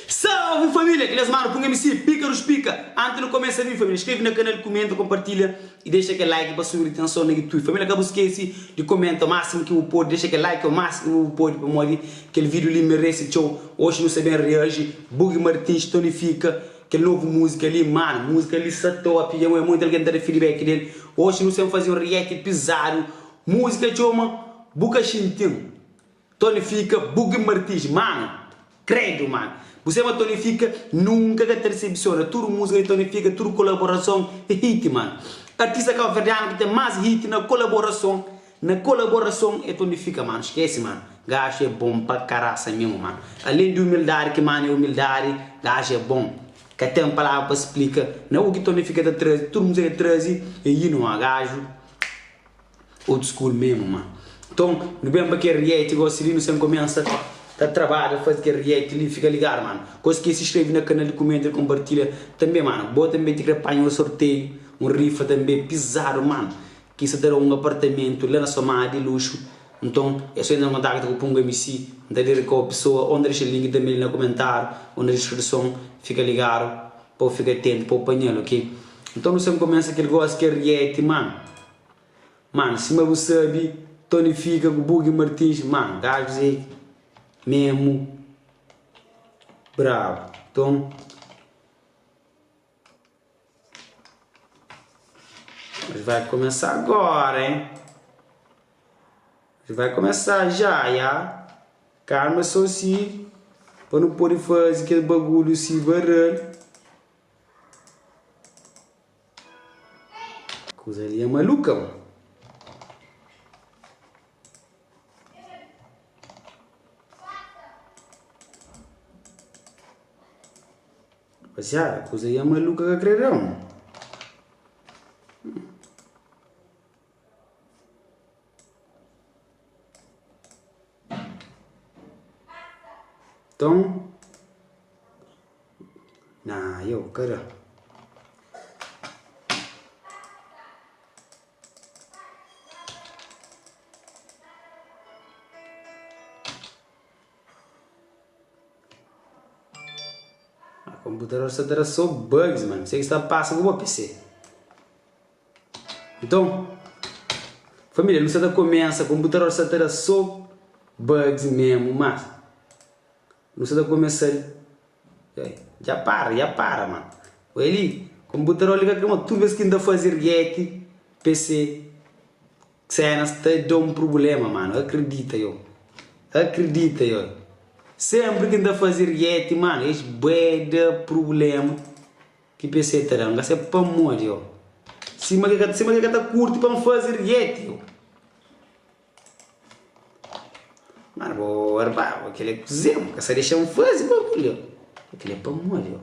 Salve família, kil es manu pun MC pika dos pika anti nu komesa vin família skrebe na kanal kumenta konpartilha y dexa kel like pa subi di tenson na youtube família ka bu skesi di komenta o máximo ki bu podi dexa kel like o máximo ki bu podi pamodi kel video li meresi txeu oxi nu sta ben reaji bugi martins tonifika kel novo musika li manu musika li sa top y awe monti algen ta da feedback del oxi nu sa ben fazi un react pizadu Múzika txoma Bu ka xinti-m Tony fika Buggy Martins Mano, kredu mano Bu sema Tony fika Nunka ka ta disepsiona Tudu múzika di Tony fika Tudu kolaborason é hit mano Artista kabuverdianu ki ten más hit na kolaborason Na kolaborason é Tony fika mano Skese mano Gaxu é bon pa karaxa mimo mano Alen di umildadi ki mano é umildadi Gaxu é bon Ka ten palavra pa splika Na u ki Tony fika ta trazi Tudu múzika el trazi é hino mano Gaxu. Old school mesmo ma. Nton nu ben pa kel reality gosi li nu sen começa ta trabadja fazi kel reality li fica ligado mano gosi ki si screve na canal li comenta li compartilha tambe mano bo tambe ti cre panha un sorteio un rifa tambe pisado mano ki sa ta da un apartamento la na sua mala di luxo nton e so entra na contacto ku pungu mc nta lirica o pessoa o nta dexel link tambe li na comentado o na descripção fica ligado. pa u fika atentu pa u panha-l ok nton nu sen kumesa kel gosi ki é rieti man man sima bu sabi tony fika ku bugi martins man gajus é memu brabu nton es vai kumesa agora hein. Nhu vai kumesa ja ya. Karma so si pa nu pode faze kel bagulhu si varal. Kuza li é maluka bo. Rapaziada, kuza li é maluka ka kre da-m. Nton, na yo ka da. Konputador sta ta da so bugs mano, mi sai ki sta ta pasa ku bo pc. Nton, família, nu sa ta kumesa, konputador sa ta da so bugs memu, ma nu sa ta kumesa-l, ei, dja para, dja para, ma oi li, konputador li ka krê, ma tudu bes ki N ta faze rieti PC Xenas ta da un prubléma, mano, akridita io, akridita io, sénpri ki N ta faze rieti, mano, es bué da prubléma, Ki pé sê ta da-m? Ga sê pamodi ô. Sima ki ka, sima ki ka ta kurti pa-m fazi rieti ô. Má bo arbaba, kel-li é kuzê? Bo ka sa dexa-m fazi bagulhu ô. Bo kel-li é pamodi ô.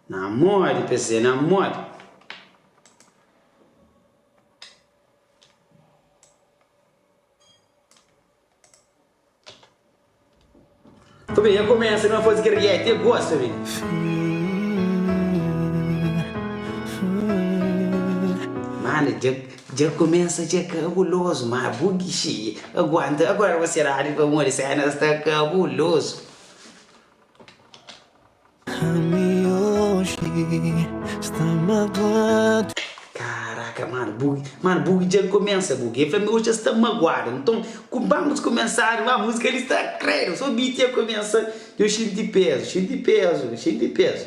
Na modi pé sê, na modi. Ku ben, nha kumesa ben fazi kel rieti, e gosta ben. Mana, dja dja kumesa dja kabulozu, ma bu gixi aguanta, agora bu seradu pamodi senas ta kabulozu. Karaka mano bu mano bu dja kumesa bu e fla-m oji es ta maguadu nton ku banus kumesadu ma musika li sta kredo so beat dja kumesa djo xinti pezu xinti pezu xinti pezu.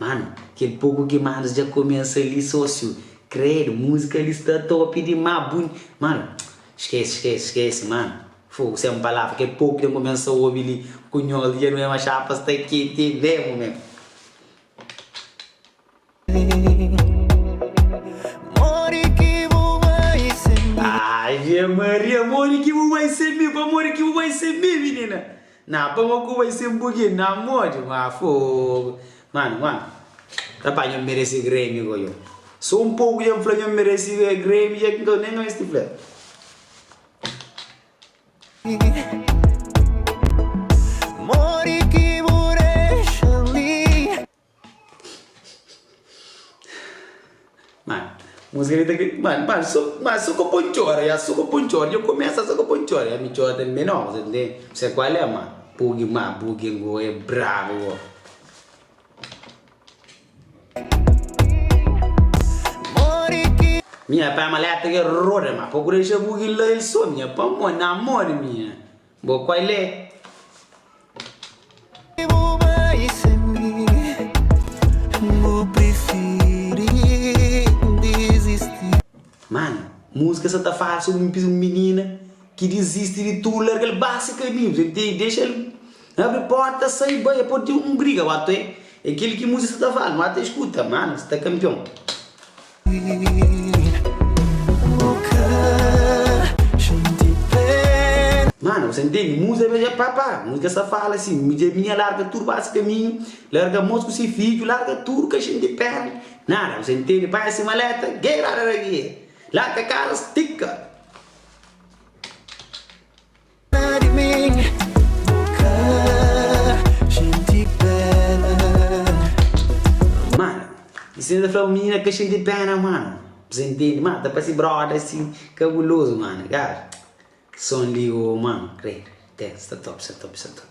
Mano, kel poku ki Manus dja kumesa li, sósiu, krédu, múzika li sta top dimás, bu. Mano, skese, skese, skese, mano, fogu, sen palavra, kel poku ki ten kumesa obi li, ku nhos li, dja nu ben ba xapa sta kenti mésmu, men. Ave Maria Amore ki bu bai sen mi Amore ki bu bai sen mi Minina Nah pa ma ku bai sen bu ki na modi ma fogo Mano mano Ta pa nho meresi Grammy ko yo So un poku dja n'fla nho meresi Grammy dja ki nka nem ka mesti fla Amore ki bu dexa li. Músika li ta kre... Mano, mano, so, mano, so ka pon txora ya, so ka pon txora, dja kumesa so ka pon txora ya, mi txora tanbe no, sa ntende, sa kual é ma, bugi ma, bugi ngo é brabu bo. Minha pai maleta que roda ma procura deixar bugi lá ele só minha pamó na amor minha. Bo koi le. Bu bai sen mi bu prifiri dizisti. Mano música sa ta fala sobri un pis un minina ki dizisti di tudu largal base kaminhus el tei dexal abri porta sai bai el podi ten un briga watoe é kel ki música sa ta fala wata escuta mano sta campeão. Mana, bu sa ntende, Muze ben dja pâpâ Muze ka sa fala si, Midjé minha larga tudu ba si kaminhu Larga mos ku si fidju Larga tudu ka xinti pena nada Bu sa ntende, panha si maleta Gei rarara gei Larga kasa stika. Mano, i si nu ta fla-u minina ka xinti péna, mano? Bzê intende, mano, ta parse bróda asi kabulozu, mano, egal. Son li, ô, mano, kre-l, ten, sta top, sta top, sta top.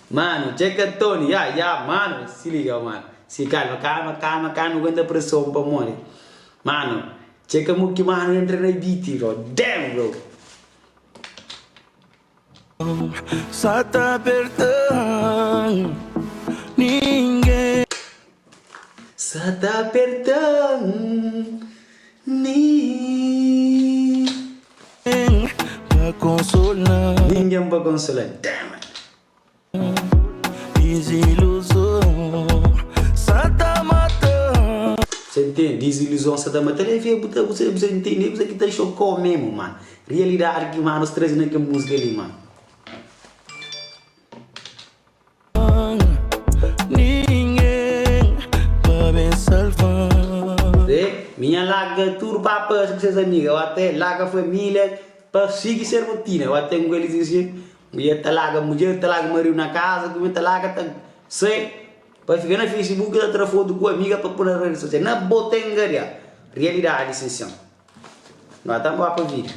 Mano, dja ka Tony, ya, ya, mano, si liga, mano, si kalma, kalma, kalma, ka nu guenta preson pamodi, mano, dja ka mo ki mano entra na beat, bro, damn, bro. Sa ta perda ninguém. Sa ta aperta-m nin. Pa konsola-m. Ningen pa konsola damn it. Diziluzon sa ta mata-m. Sa ntende diziluzon sa ta mata-l é bu ta bu sa ntende é kuza ki ta xoka-u memu mano rialidadi ki manu es traze na kel múzika li mano. Zé, mi nha larga tudu pa pase ku ses amiga, eu até larga família pa sigui ses rotina, eu até ngoli ses jeito, mulher ta larga mulher, ta larga marido na casa, ku mi ta larga ta sai pa fica na facebook ta tra foto ku amiga pa pôr na rede social, na bo ta engaria, realidade sin chão, no ata nba pa vida.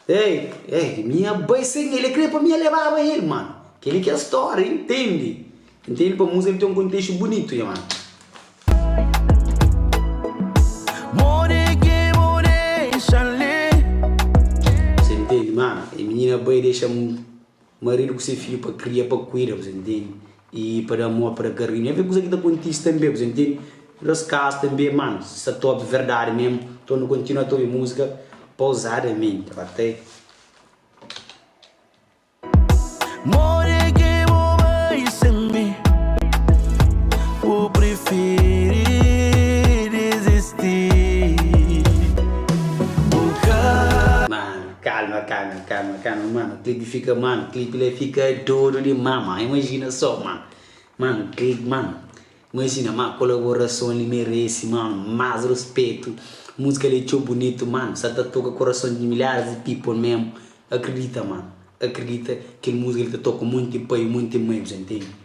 Ei ei mi nha bai sem ele kre pa mi nha lebaba ele mano kele ke story intendi intendi pa musa tem contexto bonito nha mano. Você entende mano e minha bai dexam Maridu ku se fidju pa kria, pa kuida, bu sa intende, y pa da amor, pa da karinu. E avê kusa ki ta kontise tanbê, bu sa intende, nos kas tanbê, mano, si sa ta obi verdadi mesmu, nton nu kontinua ta obi musika pauzadamenti, ok. Calma calma calma calma mano clibe fika mano clibe la fika dodu di ma ma imagina so ma mano clibe mano imagina ma colaborason li merece mano mas respeto musica li txeu bonito mano sa ta toca corason di milhares di people mesmo acredita mano acredita kel musica li ta toca monte pai monte mai bu sa intendi.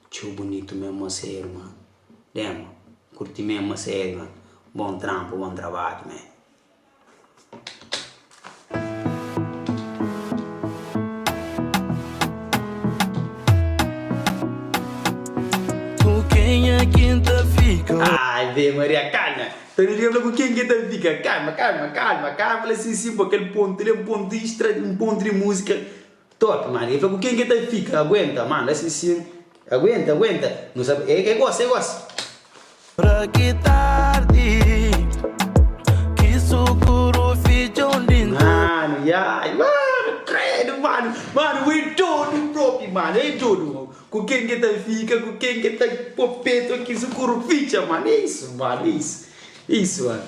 Txeu bunitu mesmo ma se irma. Dema N kurti mesmo ma se irma. Bon tranpu bon trabadju man. Ave Maria calma ta liga fla ku ken ki ta fika calma calma calma calma fla sim sim bo kel pontu li é un pontu extra un pontu di música Top mano, e fla ku ken ke ta fika, aguenta mano, es li sin, aguenta, aguenta, nu sa e e gosi, e gosi. Pra ki tardi ki sukuru fidja un di nku. Mano yai mano kredo mano mano bu e dodu propi mano e dodu ku ken ke ta fika ku ken ke ta po peto ki sukuru fidja mano e isu mano e isu e isu mano.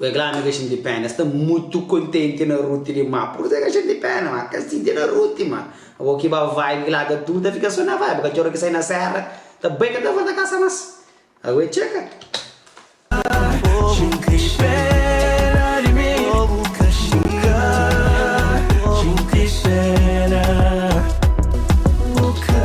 We glana ka xinti pena, sta mutu kontenti na Ruti li ma pursa ka xinti pena ma ka sinti na Ruti ma abo ki ba vibe ki la ka tu ta fika so na vibe ka txora ki sai na sera ta bai ka ta volta kasa mas a we txeka xinti pena di mi bu ka xinti pena bu ka.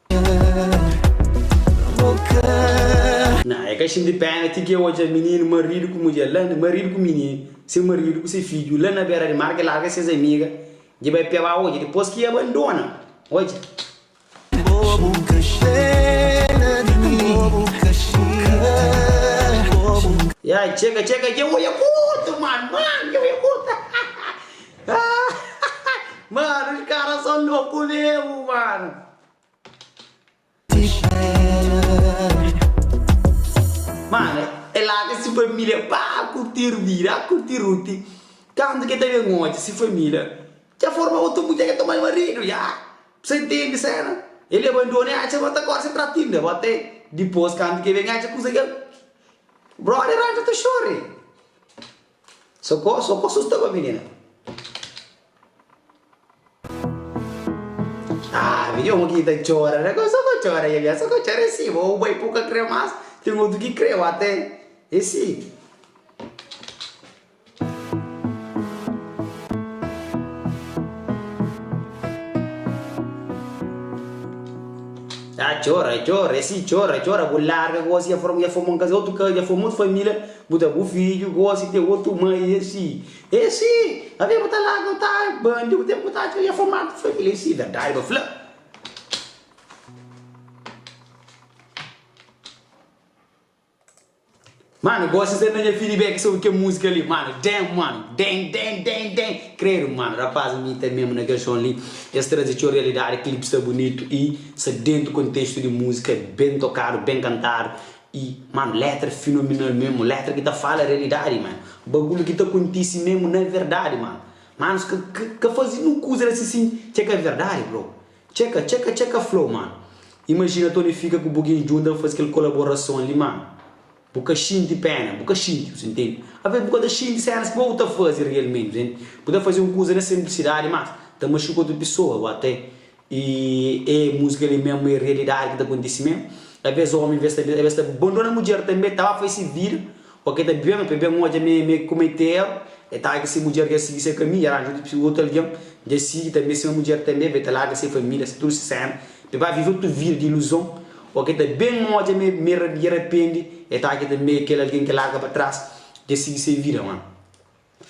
Nah e ka xinti pena ti ki e odja mininu maridu ku mudjer la maridu ku mininu se maridu ku se fidju la na bera di mar ke larga ses amiga dje bai pia ba odja dipos ki e abandona odja Bobu ka xena di mi bobu ka xinka bobu ka. Ya txeka txeka dje oia kurta mano mano dje oia kurta. Mano es kara so louco mesmo mano. Mano e laga si família pa curtir vida a curtir Ruth kantu ke ta ben odja si família dja forma otu mudjer ke toma el marido ya p'sa intendi sena el abandona e atxa bo ta acorda se trata inda bo te dipos kantu ke ben atxa kuza kel brother atxa ta chore. Sa kó, sa kó sustaba minina. Ah, vi omu ki ta txora, sa kó, sa kó txora ya ya, sa kó txora e si, bo u bai pu ka kre mas, ten otu ki kre u ate e si. Ah, txora, txora e si, txora, txora, bu larga gosi ya for, ya for mon kaze, otu kaze, ya for mutu família, Bu ta bu fidju gosi te otu ma i esi esi avia bu ta laga u ta ai ba ndi bu ten ku ta atxa ia fomadu foi filecida daiba fla. Mano gosi sa na nha feedback sobri kel musika li mano damn mano damn damn damn damn credo mano rapaz mi ta mesmo na kel son li es trazi txeu realidade clip sta bunitu i sa dentu contexto di musika ben tocado ben cantado Y, mano, letra finominal memu, letra ki ta fala realidadi, mano. Bagulhu ki ta kontisi memu na verdadi, mano. Manos, ka, ka, ka fazi nu kuza la si sin txeka é verdadi, bro. Txeka, txeka, txeka flow, mano. Imajina Tony fika ku Buginho djunta pa fazi kel kolaborason li, mano. Bu ka xinti péna, bu ka xinti, bu ta ntende? Alvês bu ka ta xinti sénus ki bo bu ta fazi realmenti, bu ta fazi un kuza na sinplisidadi, mas ta maxuka otu pesoa, ô até. E e musika li mesmo e realidade ki ta kontisi mesmo a vez omi a vez ta a vez ta bandona mudjer tambe ta ba fai si vida o ke ta bian pe bian odja me me komete erro e ta ke si mudjer ke sigi se kaminho dja aranja otu otu algem dja sigi tambe sima mudjer tambe be ta larga se família se tudu se cena pe ba vive otu vida di iluzon o ke ta ben odja me me me arapende e ta ke tambe kel algem ke larga pa tras dja sigi se vida mano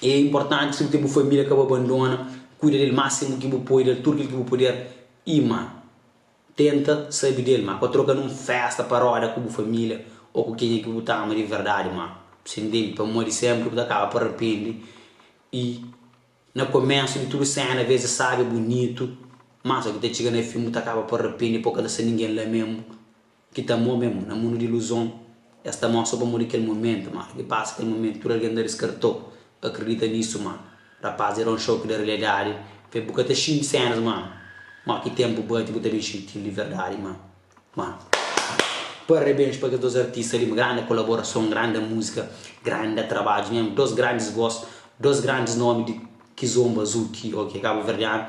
É inportanti si bu ten bu família ka bu abandona, kuida di el másimu ki bu pode, da-l tudu kel ki bu puder i má tenta sabe di el má. Pa troka na un fésta pa roda ku bu família ô ku kenha ki bu ta ama di verdadi má. Sen dente, pamodi sénpri bu ta kaba pa rapende i na komésu di tudu séna vês es sábi, bunitu, má só ki ta txiga na fin bu ta kaba pa rapende i pô ka ta sta ningen la mé-m. Ki ta mô mem na mundu di iluzon, es ta mostra pamodi kel momentu. Ma, ki pasa kel momentu, tudu algen ta diskartô, ka kridita nisu. Ma, rapaz, era un xoki di riliadadi. Fe, bu ka ta xinti sénus. Ma, ma ki tenpu bati, bu ta ben xinti-l di verdadi. Ma, ma, parabéns pa kes dôs artista li. Ma, grandi kolaborason, grandi múzika, grandi trabadju mem. Dôs grandis vós, dôs grandis nómi di Kizomba Azul ki, ok, kabuverdianu.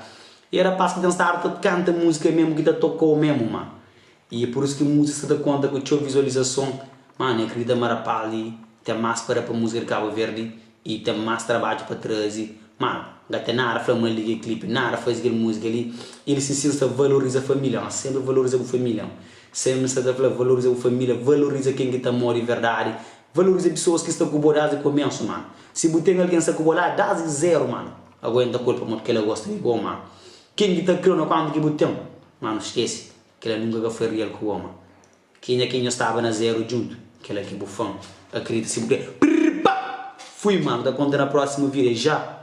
E rapaz ki ten stadu ta kanta múzika mem, ki ta tokô mem. Ma, I é pur isu ki muzika sta ta konta ku txeu vizualizason. Má, N akredita ma rapaz li ten más pa da pa muzika di Kabu Verdi i ten más trabadju pa traze. Má, N ka ten nada fla mal di kel klipi, nada faze kel muzika li. El si sin sta valoriza família. N sénpri valoriza bu família. N sénpri sta ta fla, valoriza bu família, valoriza ken ki ta amó di verdadi, valoriza pesoas ki sta ku bo désdi koménsu, mano. Si bu ten algen sta ku bo la désdi zéru, mano, aguenta ku el pamodi kel la gosta di bo, mano. Ken ki ta kre-u na kuantu ki bu ten, mano, skese. Kela nunka ka foi rial ku oma. Kenha ki nho staba na zeru djuntu? Kela ki bu fan akredita si bu kre. Prrr pa! Fui ma nu ta konta na prosimu video ja.